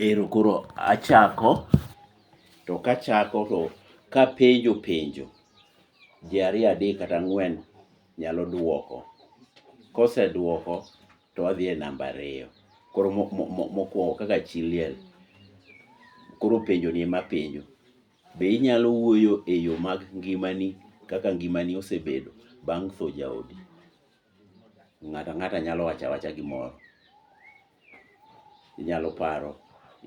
Ero koro achako, to kachako to kapenjo penjo ji ariyo adek kata ang'wen nyalo duoko. Koseduoko to wadhi e namba ariyo. Koro mokuongo kaka chi liel, koro penjoni ema apenjo. Be inyalo wuoyo eyo mag ngimani kaka ngimani osebedo bang' tho jaodi? Ng'ato ang'ata nyalo wacho awacha gimoro. Inyalo paro,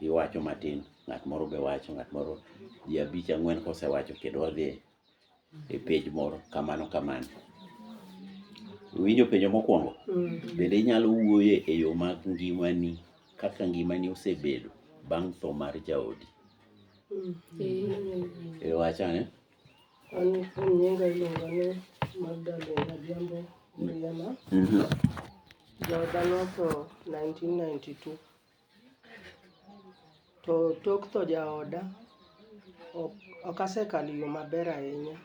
iwacho matin, ng'at moro be wacho, ng'at moro, ji abich ang'wen kosewacho kendo wadhi e pej moro kamano kamano. Iwinjo penjo mokwongo? Mm. Bende inyalo wuoye e yo mag ngimani, kaka ngimani osebedo bang' tho mar jaodi. Mm. E wacha ne? An kuom nyinga iluonga ni Magdalene Adhiambo Miriama. Jooda notho 1992. To tok tho jaoda, ok- ok asekalo yo maber ahinya.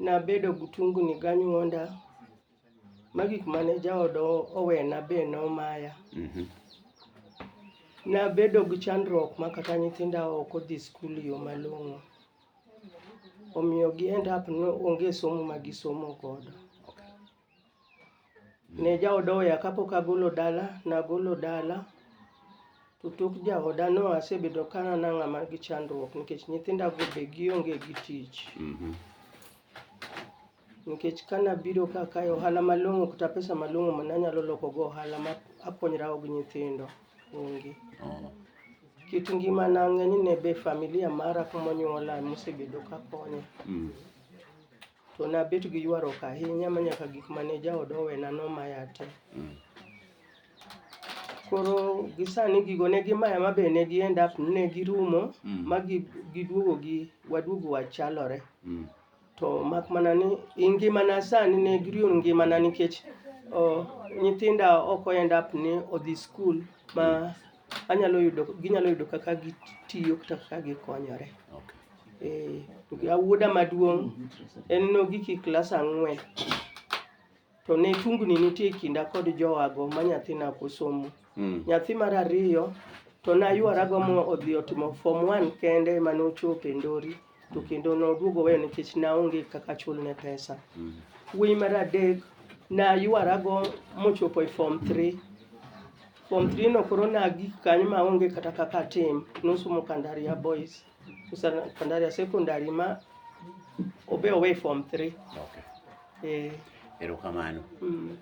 Nabedo gi tungni ganyuonda Ma gik mane jaoda owena be nomaya. Nabedo gi chandruok ma kata nyithinda ok odhi skul e yo malong'o. Omiyo gi end up ni onge somo ma gisomo godo. Ne jaoda oweya kapok agolo dala, nagolo dala. To tok jaoda no asebedo ka an a ng'ama nigi chandruok nikech nyithinda go be gionge gi tich. Nikech ka nabiro ka akayo ohala malong'o kata pesa malong'o ma nanyalo loko go ohala ma akonyra go gi nyithindo, onge. Kit ngimana ng'eny ne be familia mara kumonyuola emosebedo ka konya. To nabet gi ywaruok ahinya ma nyaka gik mane jaoda owena nomaya te. Koro gi sani gigo ne gimaya ma be ne gi end up ne girumo ma gi giduogo gi waduogo wachalore. To mak mana ni i ngimana sani ne giriyo ngimana nikech o, nyithinda ok o end up ni odhi skul ma anyalo yudo, ginyalo yudo kaka gitiyo kata kaka gikonyore. Okay. Eh, wuoda maduong' en nogik i klas ang'wen. To ne tungni nitie e kinda kod jowago ma nyathina ok osomo. Mm. Nyathi mar ariyo to nayuarago mo odhi otimo form one kende ema nochopo e Ndori to kendo noduogo weyo nikech naonge kaka chulne pesa. Mm. Wuoyi mar adek nayuarago mochopo e form three. Form three no koro nagik kanyo maonge kata kaka atim, nosomo Kandaria Boys. Sasa bandari ya secondary ma obe away form 3. Okay. Eh. Erokamano. Mm.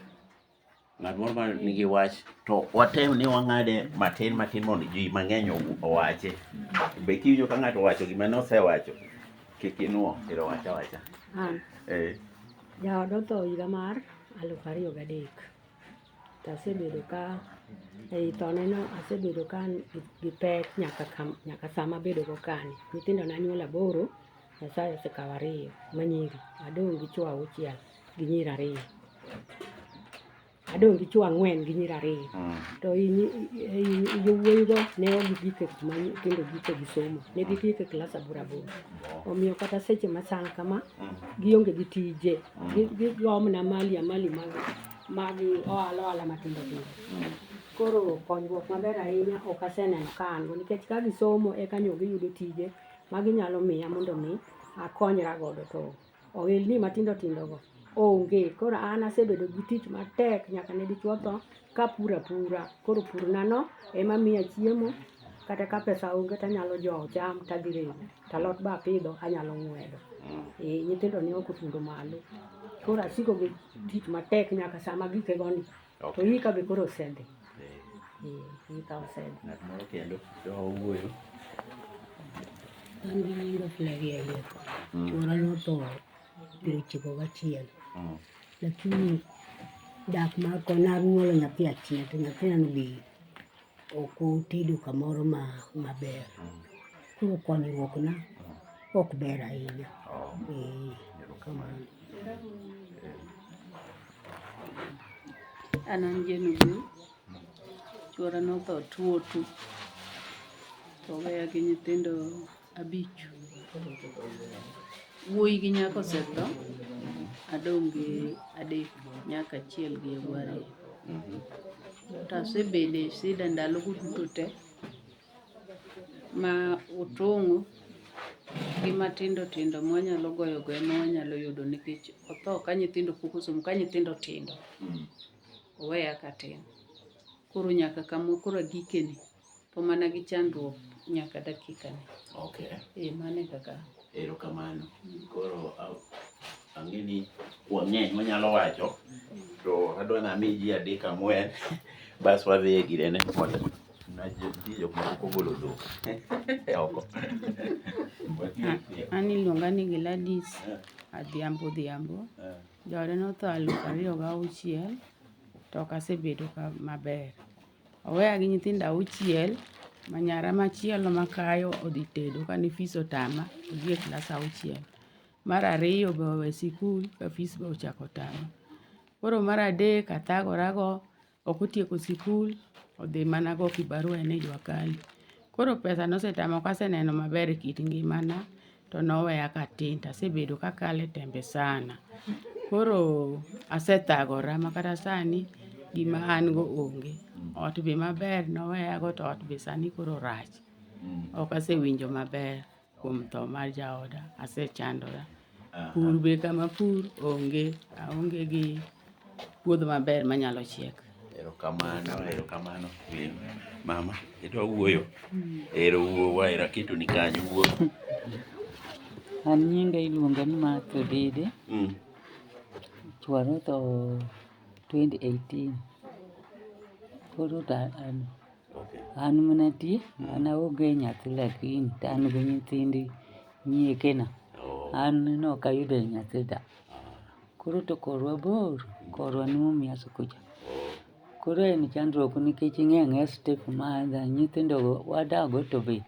Ng'at moro ma nigi wach to watem ni wang'ade matin matin mondo ji mang'eny owache. Be kiwinjo ka ng'ato owacho gima nosewacho kik inuo ero wacha wacha. An. Eh. Jaoda otho higa mar aluf ariyo gadek. To asebedo ka ei thoneno asebedo ka an gi- gi pek nyaka kam- nyaka sama abedogo kani. Nyithindo ne anyuolo aboro, Nyasaye osekawo ariyo ma nyiri. Adong' gi chwo auchiel gi nyiri ariyo. Adong' gi chwo ang'wen gi nyiri ariyo. Mm. To i nyi- i- i- i- yowuoyigo ne ok gigik e kuma nyithindo gike gi somo. Ne gigik e klas aboro aboro. Omiyo kata seche machal kama, Mm. gionge gi tije. Gi- Gigomna mali amali mag mag ohala ohala matindo tindo. Koro konyruok maber ahinya ok aseneno ka an go nikech ka gisomo eka nyo giyudo tije ma ginyalo miya mondo mi akonyra godo to ohelni matindo tindo go onge. Koro an asebedo gi tich matek nyaka ne dichwo tho kapuro apura. Koro pur na no ema miya chiemo kata ka pesa onge tanyalo jowo cham tadhi rego. to alot be apidho anyalo ng'wedo mm. eh, nyithindo ne ok otundo malo koro asiko gi tich matek nyaka sama gike goni to yika be koro osedhi yika eh, eh, osedhi ng'at moro kendo owuoyo an gi nyinga flagi alieko mm. chuora notho piero chiko gachiel mm. lakini dak mako naruolo nyathi achiel to nyathina nobi ok utedo kamoro ma maber. Koro konyruok na ok ber ahinya. Ee, kamano. An an Jane Obil, chuora notho tuo tu, to oweya gi nyithindo Abich. Wuoyi gi nyako osetho, adong' gi adek, nyaka achiel gi yawuoyi ariyo. To asebedo e sida ndalogo duto te ma otong'o gi matindo tindo ma wanyalo goyo goyo ma wanyalo yudo nikech otho ka nyithindo pok osomo, ka nyithindo tindo, oweya katin. Koro nyaka kama koro agikeni. po mana gi chandruok nyaka dakika ni. Okay. Eh, mano e kaka. Erokamano. Koro ang'e ni wang'eny wanyalo wacho to adwa nami ji adek ang'wen bas wadhi e girene mondo ji jok moko kogolo dhok e oko. An iluonga ni Gladys Adhiambo Odhiambo. Joode notho aluf ariyo gauchiel to ok asebedo maber. Oweya gi nyithindo auchiel, ma nyara machielo makayo odhi tedo kane fis otama, odhi e klas auchiel. Mar ariyo be owe sikul ka fis be ochako otame. Koro mar adek athagora go, ok otieko sikul, odhi mana go kibarua en e jua kali. Koro pesa no osetama ok aseneno maber e kit ngimana to noweya katin to asebedo kakalo e tembe sana. Koro asethagora ma kata sani gima an go onge. Ot be maber noweyago to ot be sani koro rach. Ok asewinjo maber kuom tho mar jaoda, asechandora. Pur be kama apur onge, aonge gi puodho maber manyalo chiek. Erokamano, erokamano min mama, idwa wuoyo? Ero wuo waera keto ni kanyo wuo. An nyinga iluonga ni Martha Odede. Mm. Chwar otho 2018. Koro ta an, Okay. an mana ti, an aonge nyathi lakini to an gi nyithindi nyiekena. Oh, An ne ok ayudo nyathi da. Koro to korwa bor, korwa ni mumia sukucha. Koro en chandruok nikech ing'e ang'e step ma adha, nyithindo go wadago to be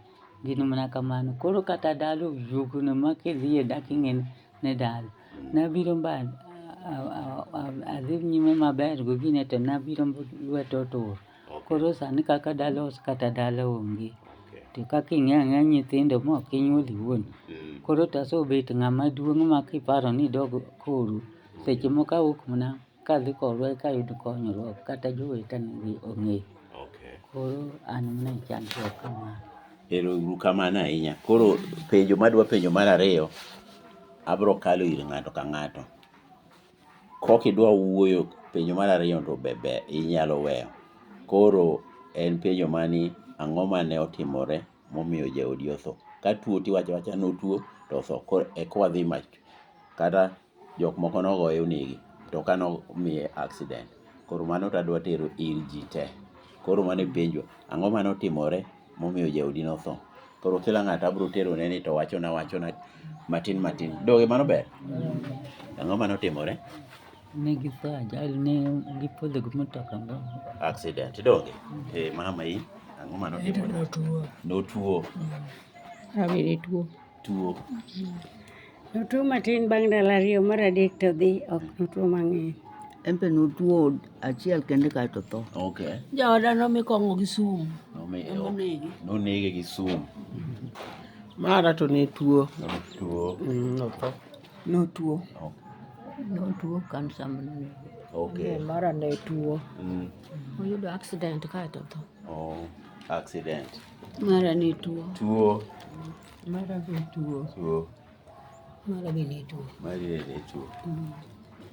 gin mana kamano. Koro kata dala oyugno ma kidhiye dak ing'eni ni dala. Nabiro mba adhi nyime maber gokinyi to nabiro lweta otur. Koro sani kaka dala ose kata dala onge. To kaka ing'e ang'eya nyithindo ma ok inyuol iwuon. Koro to asebet ng'ama duong' ma kiparo ni idog koru, seche moko awuok mana kadhi korwa eka ayud konyruok kata jowetena be ong'e. Koro an mana e chandruok kamano. Ero uru kamano ahinya. Koro penjo madwa penjo mar ariyo, abro kalo ir ng'ato ka ng'ato. Kok idwa wuoyo penjo mar ariyo no be ber inyalo weyo. Koro en penjo mani ang'o mane otimore momiyo jaodi otho. Ka tuo tiwacho awacha ni otuo to otho. Koro e kwa dhi ma kata jok moko nogoye onege to ka nomiye accident. Koro mano tadwa tero ir ji te. Koro mano e penjo. Ang'o mane otimore? momiyo jaodi notho. Koro kila ng'ato abiro terone ni to wachona wachona matin matin. Donge mano ber? Ang'o mane otimore? Ne githo ajali ne gipodho gi mtoka moro. Accident. Donge? Eh, mama in, ang'o mane otimore? Notuo. Awere tuo. tuo. Notuo matin bang' ndalo ariyo, mar adek to dhi, ok notuo mang'eny. En be notuo achiel kende kae to tho. Okay. Jaoda nomi kong'o gi sum. Nomi nonege. Nonege gi sum. Mara to ne tuo. Notuo. Mm, notho. Notuo. Notuo kansa manene. Okay. Mm, mara ne tuo. Mm. Oyudo accident kae to tho. Oh, accident. Mara ni tuo. Tuo. Mara be tuo. Tuo. Mara be ne tuo. Mara be ne tuo. Mm.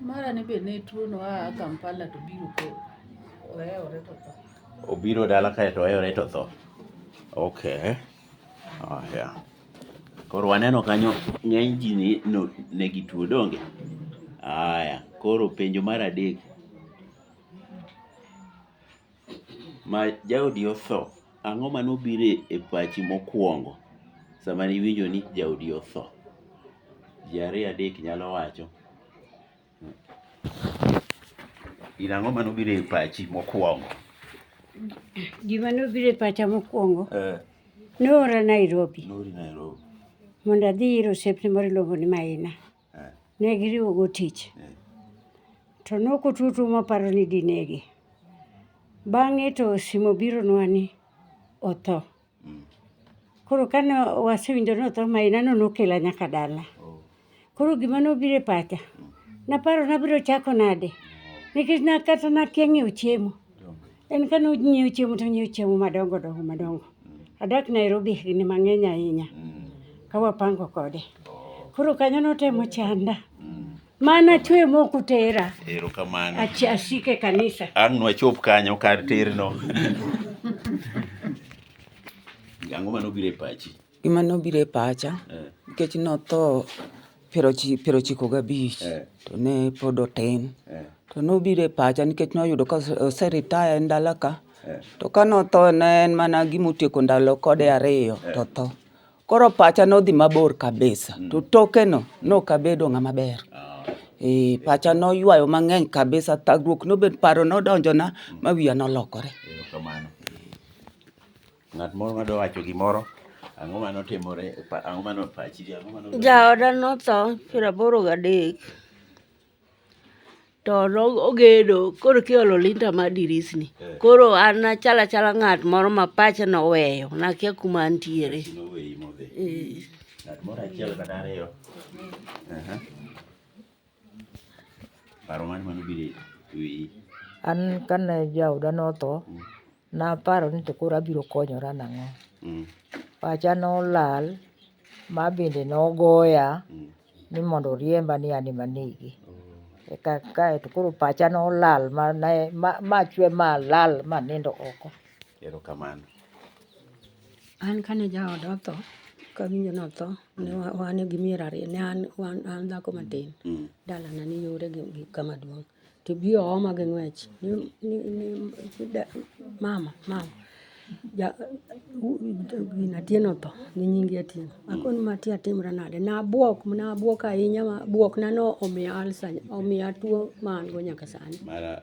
Mara ni be ne tuo no a Kampala to biro ko. Oyewore to tho. Obiro dala kae to oyewore to tho. Okay. Oh, yeah. Koro waneno kanyo ng'eny ji ni no, ne gi tuo donge? Aya, koro penjo mar adek ma jaodi otho, ang'o mane obiro e pachi mokuongo sama ne iwinjo ni jaodi otho? Ji ariyo adek nyalo wacho. In ang'o mane obiro e pachi mokuongo? Gima ne obiro e pacha mokuongo, Eh, ne oora Nairobi noori Nairobi. mondo adhi ir osiepne moro iluongo ni Maina. ne giriwogo tich, to ne ok otuo tuo maparo ni dinege. Bang'e to simu obironwa ni otho. Koro kane wasewinjo ni otho ma ineno nokela nyaka dala. Koro gima nobiro e pacha, naparo ni abiro chako nade nikech ne kata akia ng'iewo chiemo. En kane onyiewo chiemo to onyiewo chiemo madongo dongo madongo. Adak Nairobi higni mang'eny ahinya ka wapango kode. Koro kanyo notemo chanda. Mana chwe mok utera. Erokamano. Achi- Asik e kanisa. Ang' nwachop kanyo kar terno. Ang'o manobiro e pachi? Gima nobiro e pacha eh. nikech notho piero ochiko gabich eh. to ne pod otin eh. to nobiro e pacha nikech noyudo ka oseritaya e ndala ka to ka notho ne en mana gima otieko ndalo kode ariyo to tho. Koro pacha nodhi mabor kabisa mm. to tokeno nok abedo ng'ama ber. Ah. Eh, pacha noywayo mang'eny kabisa, thagruok nobet, paro nodonjona ma wiya nolokore. Ng'at moro ma dowacho gimoro, ang'o ma notimore, e pa- ang'o ma nopachi, ang'o ma nodonjo? Jaoda notho piero aboro gadek to no- ogedo koro kiolo linta mar dirisni Eh. koro an achalo achala ng'at moro ma pache noweyo nakia kuma antiere Chi noweyi modhi. Eh, Ng'at moro achiel kata ariyo. Aha. Paro mane manobiro e wiyi? An kane jaoda notho, naparo ni to koro abiro konyora nang'o. Mm. Pacha nolal, ma bende nogoya Mm. ni mondo oriemba ni an ema anege. Oh. Eka kae to koro pacha nolal ma ne- ma- machwe malal manindo oko. Erokamano. An kane jaoda otho, kawinjo notho, ne wa- wan gi mier ariyo, ne an, wan, an dhako matin. Dalana ni yore gi, gi kama duong'. To bi ooma gi ng'wech. Ni, ni, ni, ni da, mama, mama. Ja, u, gina Atieno otho, gi nyingi Atieno. Akoni ma ti atimra nade? Nabuok, nabuok ahinya ma buokna no omiya ulcer, omiya tuo ma an go nyaka sani. Mara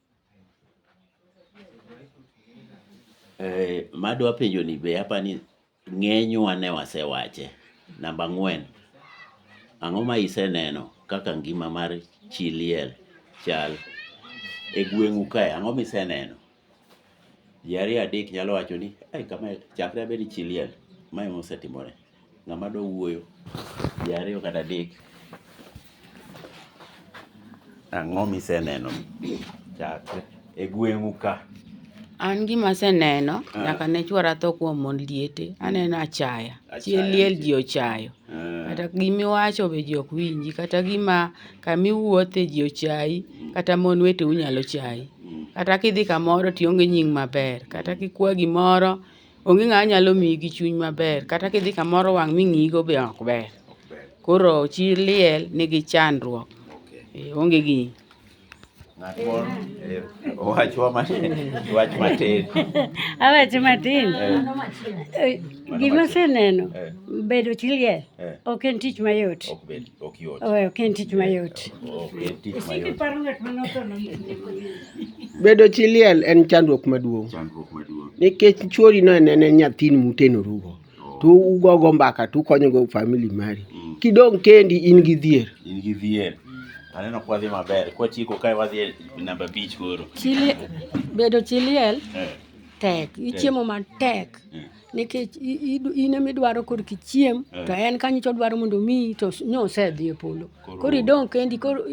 Eh, madwa penjo ni be apa ni ng'enywa ne wasewache. Namba ang'wen, ang'o ma iseneno kaka ngima mar chi liel chal e gweng'u kae? Ang'o miseneno? Ji ariyo adek nyalo wacho ni, ai kama chakre abed chi liel, ma ema osetimore. Ng'ama dwa wuoyo? Ji ariyo kata adek. Ang'o miseneno chakre e gweng'u ka? An gima aseneno Ah. nyaka ne chwara tho kuom mon liete, aneno achaya. Achaya Chie liel nitie. ji ochayo. Ah, Kata gimiwacho be ji ok winji, kata gima kamiwuothe ji ochayi, kata mon weteu nyalo chayi. mm. Kata kidhi kamoro tionge nying maber, kata kikwa gimoro Onge ng'ama nyalo miyi gi chuny maber kata kidhi kamoro wang' ming'iyi go be ok ber. Koro chi liel nigi chandruok. Ee, Onge gi Ng'at moro eh, owachwa ma- wach matin. Awach matin. Eh, Gima aseneno, Eh. bedo chi liel Eh. ok en tich mayot. Ok bed, ok yot. Owe, Ok en tich mayot. Ok en tich mayot. Bedo chi liel en chandruok maduong'. Chandruok maduong'. Nikech chwori no enene nyathini mutenorugo. To ugogo mbaka to ukonyogo famili mari. Mm. Kidong' kendi in gi dhier. In gi dhier. Aneno kwa dhi maber. Kwa chiko kae wadhi e namba bich koro. Chili, bedo chi liel eh. tek. Ichiemo matek. Eh. nikech in ema idwaro kor kichiem eh. to en kanyo to dwaro mondo omiyi to nyo osedhi e polo koro idong' kendi koro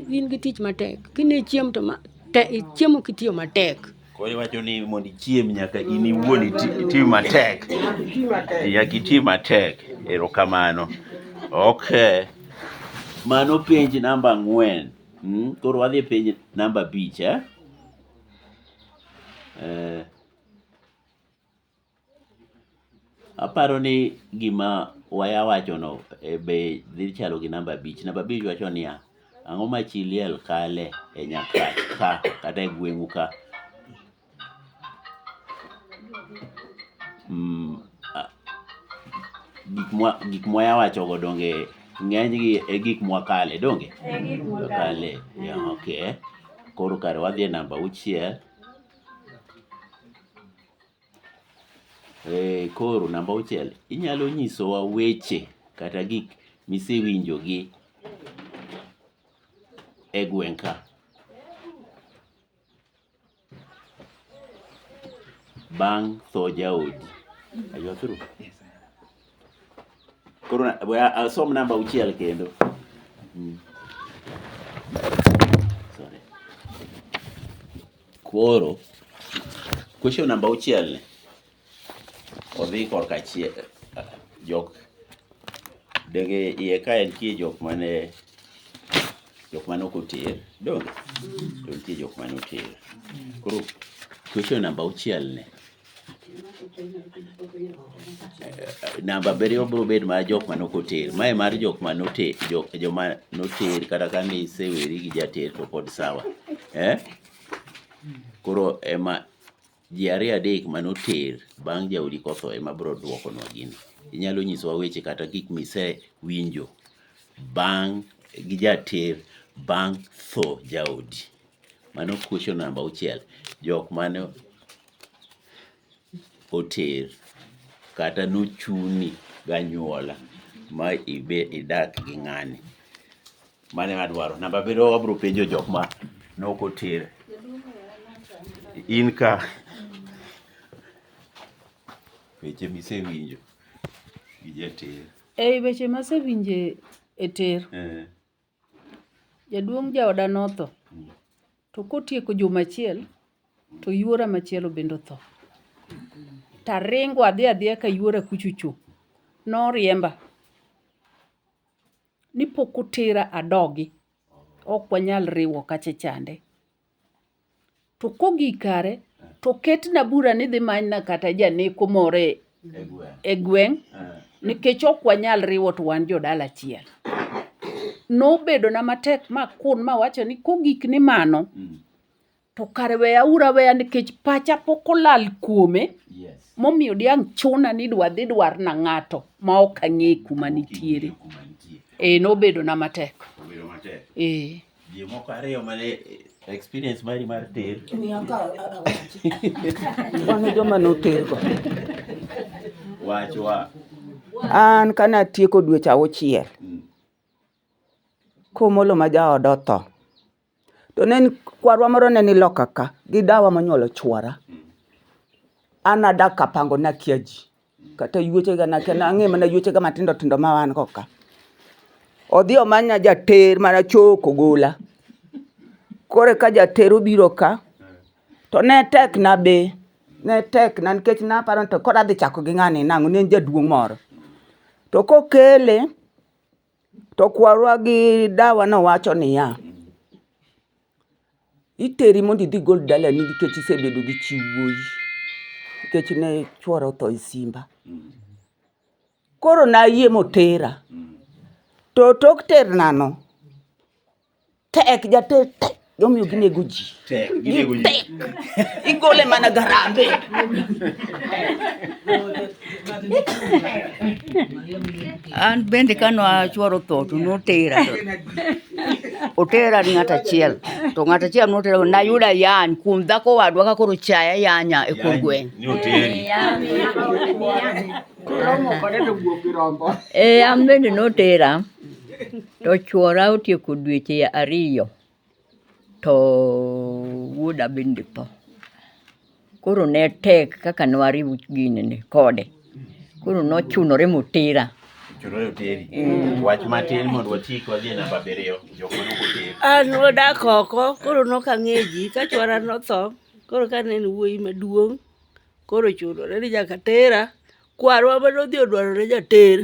in gi tich matek kine chiem to chiemo kitiyo matek koro iwacho ni mondo ichiem nyaka in iwuon iti matek nyaka iti matek erokamano ok mano penj namba ang'wen hmm? koro wadhi e penj namba abich eh? eh Aparo ni gima waya wachono be dhi chalo gi namba abich. Namba abich wacho niya, ang'o ma chi liel kale e nyakach ka kata e gweng'u ka. Gik mwaya wachogo donge ng'enygi e gik mwakale donge? Ee gik mwakale. Koro kare wadhi e namba auchiel. Eh, koro namba auchiel, inyalo nyisowa weche kata gik misewinjo gi e gweng' ka. Bang' tho jaodi. Are you through? Koro na- we- I'll som namba auchiel kendo. Mm. Sorry. Koro question namba auchiel ni odhi korka chie jok denge iye ka en tie jok mane jok mane ok oter donge to nitie jok mane oter koro question namba auchiel ni namba abiriyo biro bedo mar jok ma nok oter. Mae mar jok ma noter, jok joma noter kata ka ne iseweri gi jater to pod sawa. Eh? Koro ema ji ariyo adek ma noter bang' jaodi kotho ema biro dwokonwa gini. Inyalo nyisowa weche kata gik misewinjo bang' gi jater bang' tho jaodi. Mano question namba auchiel. Jok mane oter kata nochuni ganyuola ma ibe idak gi ng'ani. Mano ema adwaro. Namba abiriyo abro penjo jok ma nok oter. In ka weche misewinjo gi jater. Ei weche masewinje e ter. Jaduong' jaoda notho, to kotieko juma achiel to yuora machielo bende otho. Taringo adhi adhiya ka yuora kuchocho. Noriemba ni pok otera adogi, ok wanyal riwo kacha chande. To kogik kare to ketna bura ni dhi manyna kata janeko moro e, e gweng' nikech ok wanyal riwo to wan jodala achiel. Nobedona matek ma kun mawacho ni kogik ni mano to kare weya ura weya nikech pacha pok olal kuome momiyo diang' chuna ni dwa dhi dwar na ng'ato ma ok ang'e kuma nitiere. Eh, nobedona matek. Eh. Ji moko ariyo mane experience mari mar ter. Wano joma notergo. Wachwa. An kana tieko dweche auchiel. Mm. Komolo ma jaoda otho. To ne kwarwa moro ne ni loka ka gi dawa monyuolo chwara. Mm. An adak kapango nakia ji. Kata yuechega nakia nang'e mana yuechega matindo tindo ma wan go ka. Odhi omanya jater mana choko gola. Koro ka jater obiro ka, to ne tek na be, ne tek na nikech naparo ni to koro adhi chako gi ng'ani nang'o, ne en jaduong' moro. To kokele, to kwarwa gi dawa nowacho niya, Iteri mondo idhi gol dalani nikech isebedo gi chi wuoyi nikech ne chuora otho e simba. Koro ne ayie ma otera. To tok ternano, tek jater tek ema omiyo ginego ji. Gitek. Igole mana gi harambee. An bende kane achuoro tho to notera otera ni ng'at achiel to ng'at achiel notera nayudo ayany kuom dhako wadwa ka koro chaya yanya e kor gweng' e an bende notera to chuora otieko dweche ariyo to wuoda bende tho. Koro ne tek kaka ne wariwo ginene kode. Koro ne ochunore ma otera. An nodak oko koro ne ok ang'eyo ji ka chuora ne otho koro ka ne en wuoyi maduong' koro ochunore ni nyaka atera. Kwarwa mane odhi odwarone jater.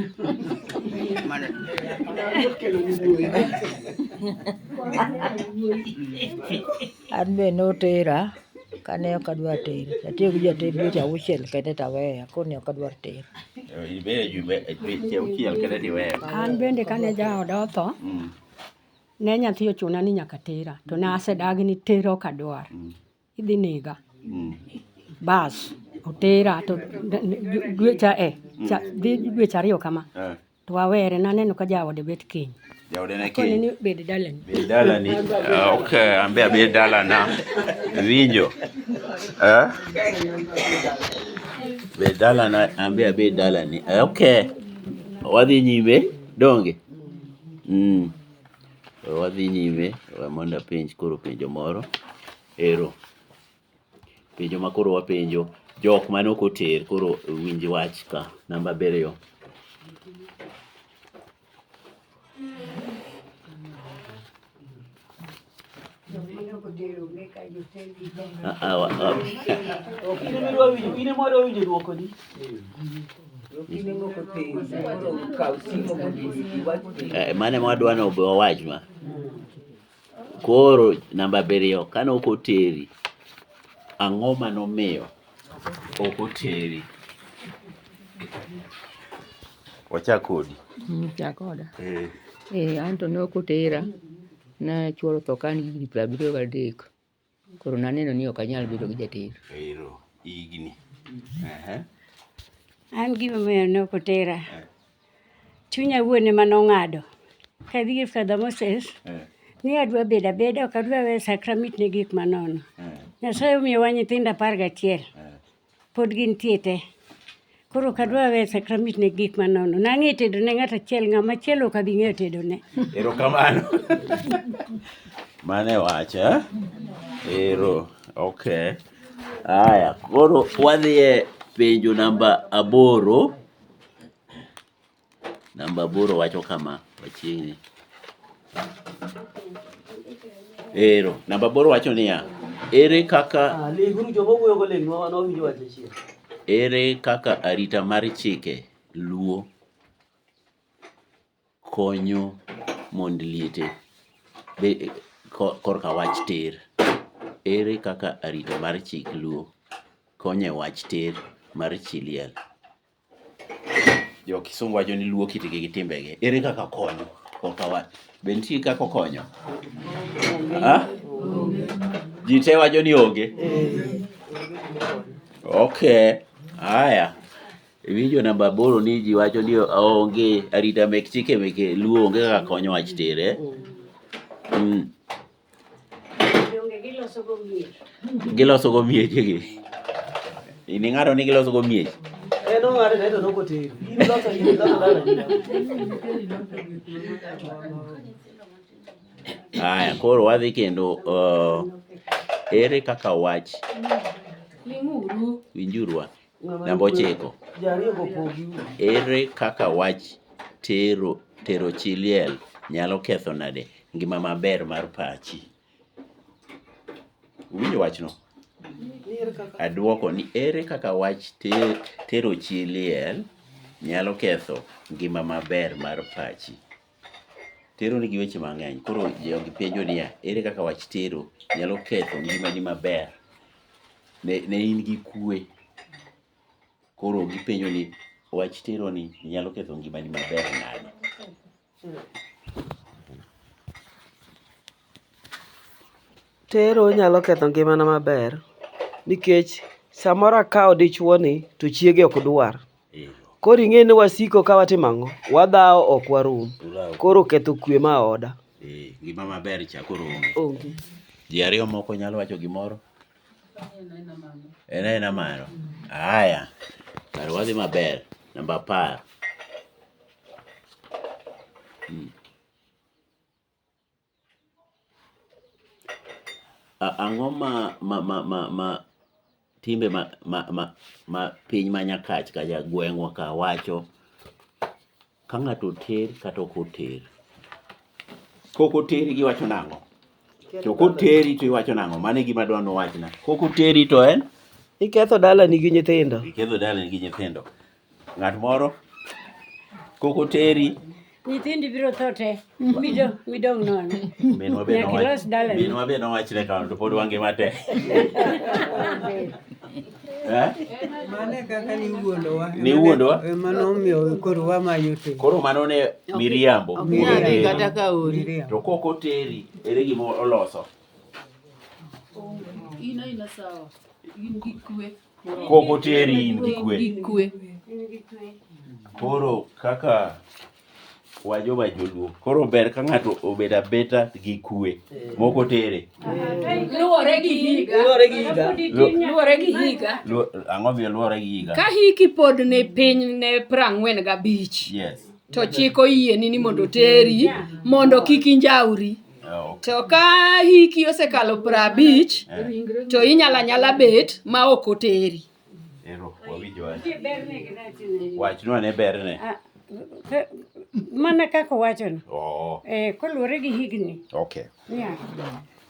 An be notera kane ok adwa ter. Atiyo gi jater dweche auchiel kende taweya koni ok adwar ter. Ibedo jumbe dweche auchiel kende tiweya. An bende kane jaoda otho, mm. ne nyathi ochuna ni nyaka tera to ne asedagi ni tera ok adwar. Mm. Idhi nega. Mm. Bas, otera to dwecha e, mm. cha, dhi dwecha ariyo kama. Eh. To awere naneno ka jaode bet kiny. Jaode ne kiny. Koni bed dalani. Bed dalani. Ah, okay, ambe abed dalana. Winjo. Eh? Bed dalana, ambe abed dalani. Eh, okay. Wadhi nyime donge. Mm. We wadhi nyime, we mondo apenj koro penjo moro. Ero. Penjo ma koro wapenjo, jok mane ok oter koro winj wach ka. Namba abiriyo. Eh, mane mwadwa ni obe wawach ma koro namba abiriyo kane ok oteri ang'o ma nomiyo ok oteri wachak kodi Mchakoda. eh. Eh, anto ne ok otera Nachwalo tho ka an gi higni piero abiriyo gadek. Koro naneno ni ok anyal bedo gi jater. Ero higni. An gimomiyo ne ok otera, eh. chunya wuon ema nong'ado kadhi ir Father Moses eh. ni adwa bedo abeda ok adwa we sakramit ne gik manono. Eh. Nyasaye omiyowa nyithindo apar gachiel. Pod gintie te. Koro ok adwa weyo sakramit ne gik manono. Nang'e tedo ne ng'at achiel, ng'ama achiel ok abi ng'eyo tedo ne. Erokamano. Mane wacha. Eh? Ero. Okay. Aya, koro wadhiye penjo namba aboro. Namba aboro wacho kama, wachiegni. Ero, namba aboro wacho niya, ere kaka ere kaka arita mar chike luo konyo mond liete be, ko- korka wach ter ere kaka arita mar chik luo konyo e wach ter mar chi liel Jo Kisungu wacho ni luo kitgi gi timbegi. Ere kaka okonyo? Ok awach. Be nitie kaka okonyo? Ah? Ji te wacho ni onge. Okay. Haya. Winjo namba aboro ni ji wacho ni onge arita mek chike meke luo onge kaka konyo wach tere. Mm. Donge giloso go mier. Giloso go miechegi. In ing'ado ni giloso go miech. En ong'ado to en okotero. In loso in loso dala. Haya, koro wadhi kendo uh, ere kaka wach Ling'uru. winjuru wa. Namba ochiko. Ere kaka wach tero tero chi liel nyalo ketho nade ngima maber mar pachi? Winjo wachno. Adwoko ni ere kaka wach ter, tero chi liel nyalo ketho ngima maber mar pachi? Tero nigi weche mang'eny. Koro jogi penjo niya, ere kaka wach tero nyalo ketho ngimani maber? Ne, ne in gi kue. Koro gipenjo ni wach tero ni nyalo ketho ngimani maber nade? Tero nyalo ketho ngimana maber nikech samoro akawo dichuo ni to chiege ok dwar. Koro ing'e ni wasiko ka watimo ang'o? Wadhawo ok warum. Koro ketho kwe ma oda. Eh, gima maber cha koro onge. Onge. Ji ariyo moko nyalo wacho gimoro? En aena mano. Haya. Kar wadhi maber. Namba apar. Mm. Ang'o ma ma ma ma ma timbe ma ma ma ma piny ma nyakach kacha gweng'wa ka wacho ka ng'ato oter kata ok oter? Kok oteri giwacho nang'o? To koteri to iwacho nang'o? Mano e gima dwa ni uwachna. Kok oteri to en? Iketho dalani gi nyithindo. Iketho dalani gi nyithindo. Ng'at moro kok oteri. Nyithindi biro tho te. Midong' midong' nono. Minwa be Nyaka nowa- ilos dalani. minwa be nowachne kamano to pod wangima te. Eh? Mane kaka niwuondowa. Niwuondowa? Ema nomiyo koro wamayo te. Koro mano ne miriambo. Ok nyal dhi kata ka ori. Miriam. To kok oteri ere gima oloso. In aina sawa. In gi kwe. kok oteri in gi kwe gi kwe koro kaka wajoba joluo koro ber ka ng'ato obed abeta gi kwe mok otere luwore gi higa Luwore gi higa. luwore gi higa Lu- ang'o miyo luwore gi higa ka hiki pod ne piny ne prang'wen gabich yes to chik oyieni ni mondo oteri mondo kik injauri Ah, to ka hiki osekalo piero abich eh. to inyala nyala bet ma ok oteri wachnwa ne berne ah, mana kaka owachono oh. eh, koluwore gi higni okay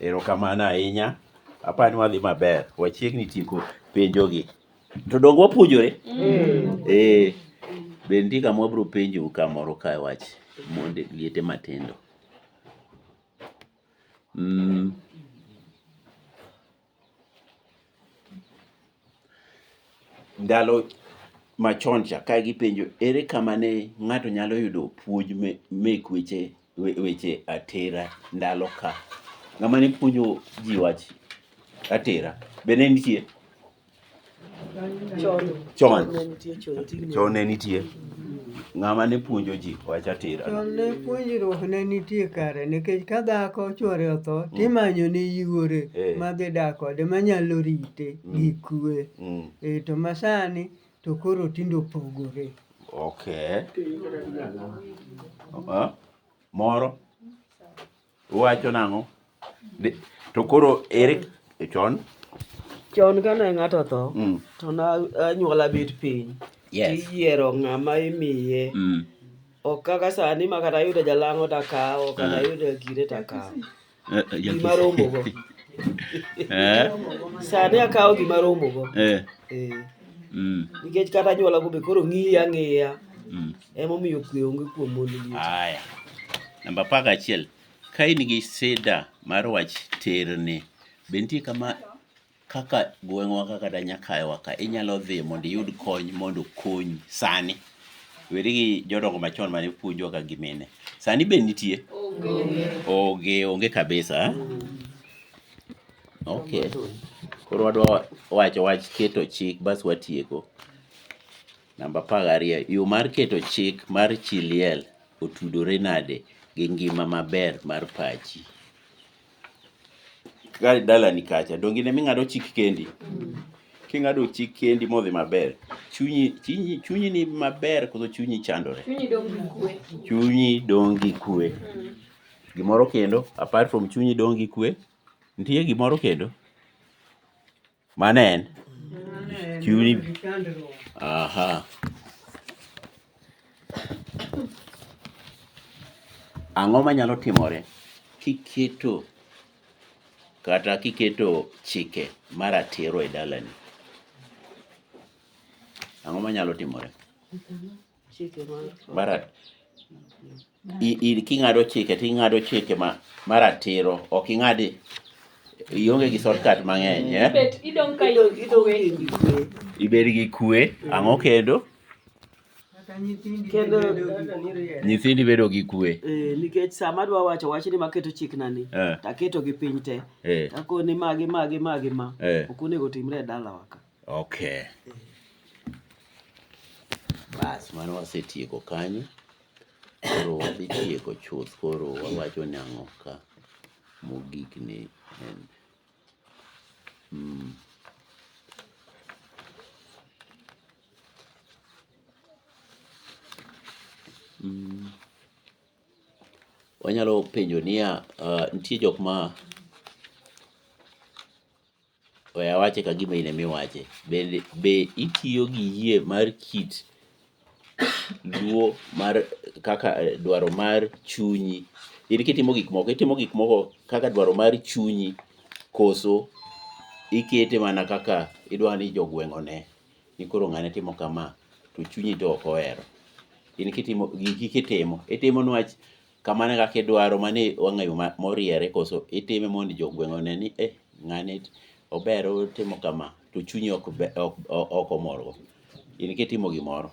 erokamano ahinya aparo ni wadhi maber wachiegni tieko penjogi to donge wapuonjore mm. eh, be nitie kama wabiro penjou kamoro ka wach monde liete matindo Mm. Ndalo machon cha ka gipenjo ere kama ne ng'ato nyalo yudo puonj me- mek weche we- weche atera ndalo ka ng'ama ne puonjo ji wach atera be ne nitie chon chon ne nitie ng'ama ne puonjo ji wacha tira chon ne puonjruok ne nitie kare nikech ka dhako chwore otho mm. timanyo ne yuore eh. madhi dak kode manyalo rite mm. gi kwe mm. e to masani to koro tindo opogore okay. moro Uwacho nang'o? Di- To koro ere chon? Chon kane ng'ato otho, Mm. to na anyuola bet piny. Yes. Tiyiero ng'ama imiye. Mm. Ok kaka sani ma kata yudo jalang'o takawo, kata yudo kire takawo. Eh, eh, ya- Gima romogo. Eh, Sani akawo gima romogo. eh, Eh, mm, Nikech kata anyuola go be koro ng'iya ng'iya. mm. Emomiyo kwe onge kuom mond liet. Aya. Namba apar gachiel. Ka in gi sida mar wach terni, be nitie kama kaka gweng'wa ka kata Nyakayowa ka inyalo dhi mondo iyud kony mondo okonyi sani? Weri gi jodongo machon mane puonjwa ka gi mine. Sani be nitie? Onge, onge kabisa. Okay. Koro wadwa wacho wach keto chik bas watieko. Namba apar gariyo, yo mar keto chik mar chi liel otudore nade gi ngima maber mar pachi? Ka dalani kacha, donge in ema ing'ado chik kendi? King'ado chik kendi modhi maber, chunyi, chunyi, chunyi ni maber koso chunyi chandore? Chunyi dong' gi kwe. Chunyi dong' gi kwe. Gimoro kendo, apart from chunyi dong' gi kwe, nitie gimoro kendo? Mane en? Chuni. Aha. Ang'o manyalo timore kiketo kata kiketo chike maratiro e dalani? Ang'o manyalo timore? Chike mar marat i- i- king'ado chike to ing'ado chike ma maratiro ok ing'ad ionge gi shortcut mang'eny eh? Bet idong ka Idong- idong ikwe. in gi kwe. ibed gi kwe ang'o kendo Kata nyithindi Kendo- bedo gi miriel. nyithindi bedo gi kwe Eh, nikech sama adwa wacho wach ni maketo chikna ni Eh. taketo gi piny te eh, takoni magi magi magi ma Eh. ok onego timre e dalawa ka Okay. Bas mano wasetieko kanyo. Koro wadhi tieko chuth koro wawacho ni ang'o ka mogik ni en. Mm. Mm. Wanyalo penjo niya, uh, nitie jok ma We awache ka gima in ema iwache. Bende be itiyo gi yie mar kit luo mar kaka dwaro mar chunyi? In kitimo gik moko, itimo gik moko kaka dwaro mar chunyi koso ikete mana kaka idwa ni jogweng' one ni koro ng'ane timo kama to chunyi to ok ohero. In kitimo giki kitimo, itimo niwach kamano e kaka idwaro mano e wang'a yo ma moriere koso itime mondo jo gweng' one ni eh ng'ani ober otimo kama to chunyi ok be ok ok omorgo. In kitimo gimoro,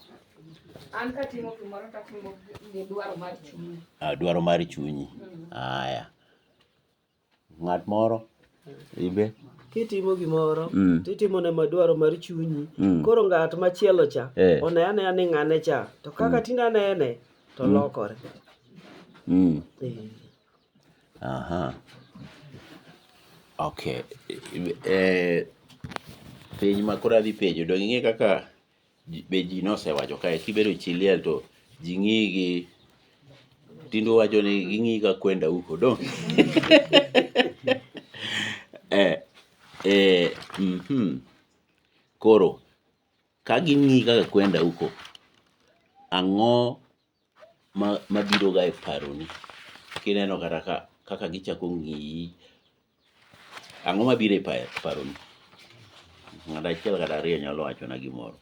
An katimo gimoro tatimo gi dwaro mar chunya. ah, dwaro mar chunyi. Aya. Ng'at moro ibe. Kitimo gimoro mm. titimo ne madwaro mar chunyi mm. koro ng'at machielo cha eh. one anea ni ng'ane cha to kaka mm. tinde anene to mm. lokore mm. eh. aha okay eh, penj ma koro adhi penjo dong' ing'e kaka be ji nosewacho kae kibedo chi liel to ji ng'iyi gi tindo wacho ni ging'iyi ka kwenda huko dong eh, eh, mm -hmm. koro ka ging'iyi kaka kwenda huko ang'o ma mabiro ga e paroni kineno kata ka kaka gichako ng'iyi, ang'o mabiro e paroni? Ng'ato achiel kata ariyo nyalo wachona gimoro.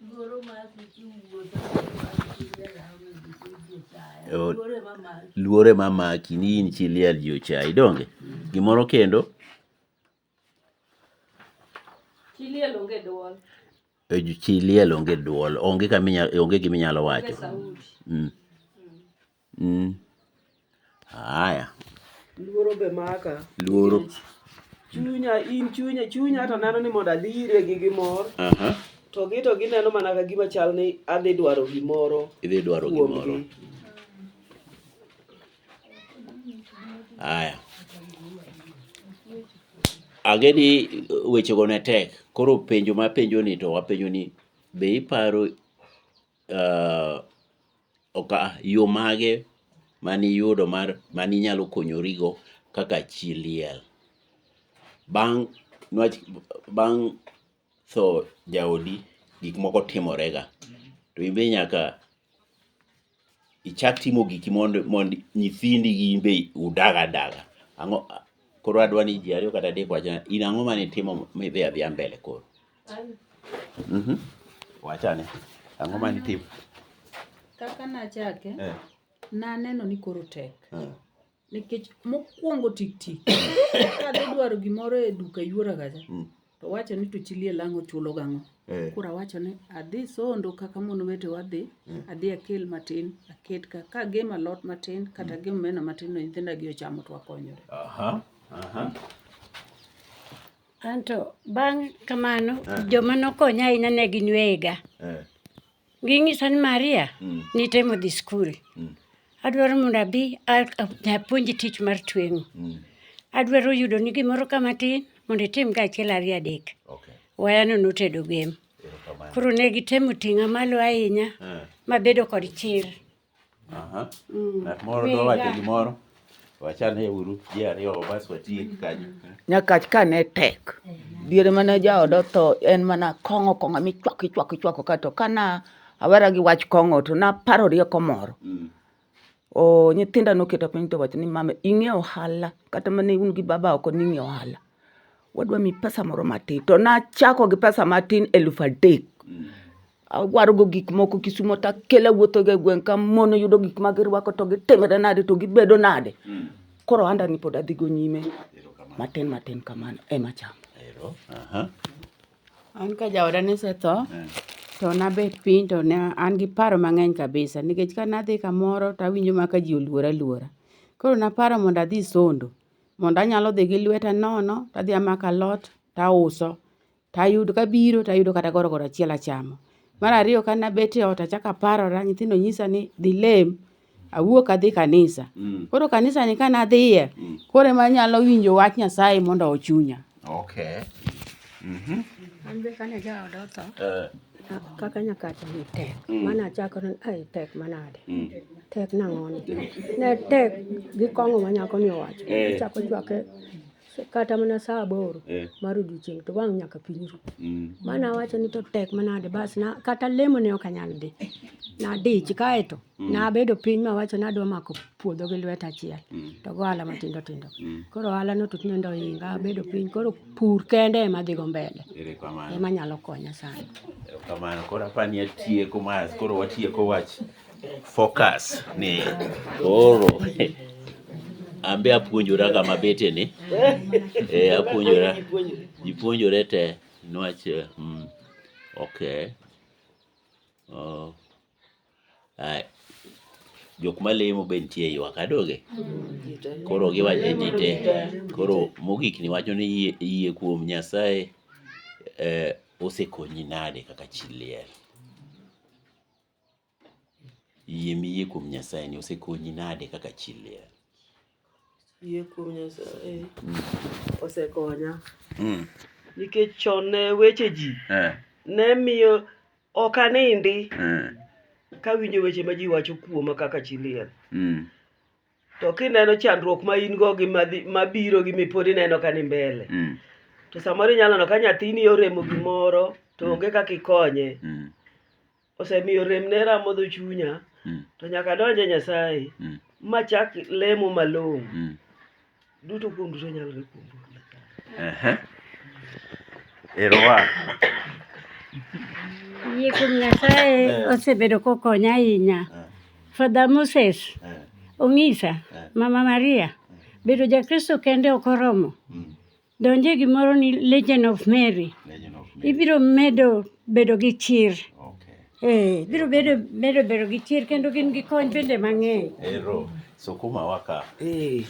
Luoro mar Luoro ema maki ni in chi liel ji ochayi donge? Gimoro kendo? Chi liel onge dwol. Eh, chi liel onge dwol. Onge kama inyalo, onge gima inyalo wacho. Mm. Mm. Haya. Luoro be maka. Luoro. Chunya, in chunya, chunya to neno ni mondo adhi ire gi gimor. Aha. To gi to gineno mana ka gima chal ni adhi dwaro gimoro. Idhi dwaro gimoro. Aya. Ang'e ni wechego ne tek. Koro penjo ma apenjo ni to apenjo ni be iparo uh, oka, yo mage mane iyudo mar mane inyalo konyorigo kaka chi liel? Bang' nwach, bang' tho jaodi gik moko timore ga. To in be nyaka ichak timo giki mondo mondo nyithindi gi in be udag adaga. Ang'o koro adwa ni ji ariyo kata adek owachna in ang'o mane itimo midhi adhiya mbele koro. Wach ane. Ang'o mane itimo? Kaka nachake, naneno ni koro tek. Nikech mokwongo tik tik kadhi dwaro gimoro e duka yuora gacha mm. to wacho ni to chi liel ang' ochulo gang'o eh. koro awacho ni adhi sondo kaka mon wete wadhi eh. adhi akel matin aket ka ka gem alot matin kata mm. gem omena matin no nyithinda gi ochamo to wakonyore anto bang' kamano eh. joma nokonya ahinya ne gin wega Ginyisa ni Maria mm. nitemo dhi skul mm. adwaro mondo abi apuonj tich mar tweng'o mm. adwaro yudo ni gimoro ka matin mondo itim ka achiel ariyo adek okay. wayano notedo gem koro ne gitemo ting'a malo ahinya eh. mabedo kod chir Aha. Mm. Ng'at moro dwa Wega. wacho gimoro. Wachane uru ji ariyo bas watiek kanyo. Nyakach ka ne tek, diere mane jaoda otho en mana kong'o kong'o michwako ichwako ichwako ka to kana awera gi wach kong'o to naparo rieko moro. Mm. O nyithinda noketa piny to wacho ni mama ing'e ohala kata mane un gi baba oko ning'e ohala. Wadwa mi pesa moro matin to nachako gi pesa matin eluf adek. Mm. awarogo gik moko Kisumo to akela wuothoga e gweng' ka mon yudo gik ma girwako to gitimre nade to gibedo nade. Hmm. Koro anda ni pod adhigo nyime matin matin kamano ema cham. An ka jaoda ne setho eh. to nabet piny to ne an gi paro mang'eny kabisa nikech ka nadhi kamoro to awinjo ma ka ji oluora luora. Koro naparo mondo adhi sondo mondo anyalo dhi gi lweta nono to adhi amako alot to auso. to ayudo kabiro to ayudo kata goro goro achiel achamo. Mar ariyo ka ne abet eot achako aparora, nyithindo nyisa ni dhi lem, awuok adhi kanisa. Mm. Koro kanisani ka ne adhiye, mm. koro ema anyalo winjo wach Nyasaye mondo ochunya. Okay. Mm -hmm. An be kane jaoda otho, eh. kaka nyakacha ni tek, mm. mane achako ni ai tek manade. Mm. Tek nang'o ni? Ne tek gi kong'o ma nyako ni owacho. Eh. Achako chwake kata mana saa aboro eh. mar odiochieng' to wang' nyaka piny ru mm. mana awacho ni to tek manade bas na kata lemo ne ok anyal dhi nadich kaeto mm. nabedo piny mawacho ni adwa mako puodho gi lwet achiel mm. to go ohala matindo tindo mm. koro ohala no tut nendo ohinga abedo piny koro pur kende ema dhigo mbele ema nyalo konya sana kamano koro apani atieko mas koro watieko wach Focus ni koro ambe apuonjora kama bete ni eh, apuonjora ipuonjore te nwach eh, mm, okay oh. Ai. jok malemo be nitie ywak adoge koro giwacho e ji te koro mogik ni wacho ni yie, yie kuom nyasaye eh, osekonyi nade kaka chi liel Yie miyie kuom Nyasaye ni osekonyi nade kaka chi liel? Yie kuom Nyasaye mm. osekonya mm. nikech chon ne weche ji eh. ne miyo ok anindi eh. kawinjo weche ma ji wacho kuoma kaka chi liel mm. to kineno chandruok ma in go gi mabiro gi mipod ineno ka ni mbele to samoro inyalo neno ka nyathini oremo gimoro to onge kaka ikonye osemiyo remne ramodho chunya mm. to nyaka donje Nyasaye mm. machak lemo malong'o mm. duto kuom duto nyalore kuom Nyasaye. Ero wa. Yie kuom Nyasaye eh. osebedo kokonya ahinya. Eh. Father Moses eh. ong'isa Mama Maria bedo Jakristo kende ok oromo. Donje gimoro ni Legend of Mary. Legend of Mary. Ibiro medo bedo gi chir. Okay. Eh, biro bedo medo bedo gi chir kendo gin gi kony bende mang'eny. Ero, sukuma waka. Eh,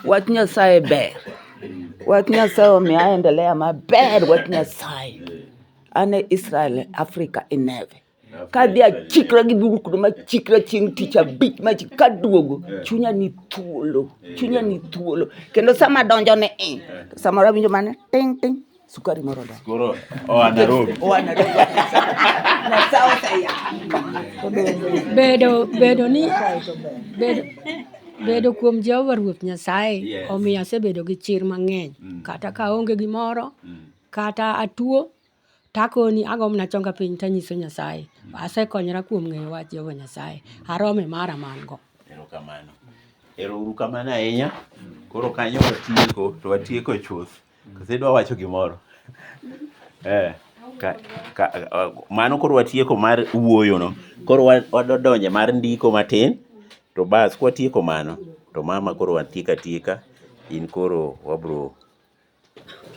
wach Nyasaye ber. Wach Nyasaye omiyo aendelea maber wach Nyasaye. An e Israel, Afrika ineve. E kadhi achikra gi dhuru kuno machikra chieng' tich abich machi kaduogo chunya ni thuolo chunya ni thuolo kendo sama donjo ne i samoro awinjo mana ting ting sukari moro da koro oa Nairobi oa Nairobi na south ya bedo bedo ni bedo bedo kuom Jehova Ruoth Nyasaye yes. omiyo asebedo gi chir mang'eny mm. kata ka onge gimoro mm. kata atuo To akoni, agombo ni achonga piny to anyiso Nyasaye. Asekonyora kuom ng'eyo wach Jehova Nyasaye. Arome mara ma an go. Erokamano. Erouru kamano ahinya. Koro kanyo watieko, to watieko chuth. Kose idwa wacho gimoro? Eh, ka, ka, ah, mano koro watieko mar wuoyono. Koro wa- wadonje mar ndiko matin, to bas kwatieko mano, to mama koro watieko atieka, in koro wabro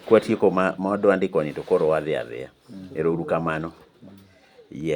Kwatieko ma dwandikoni to koro wadhi adhiya. Ero uru kamano. Yes.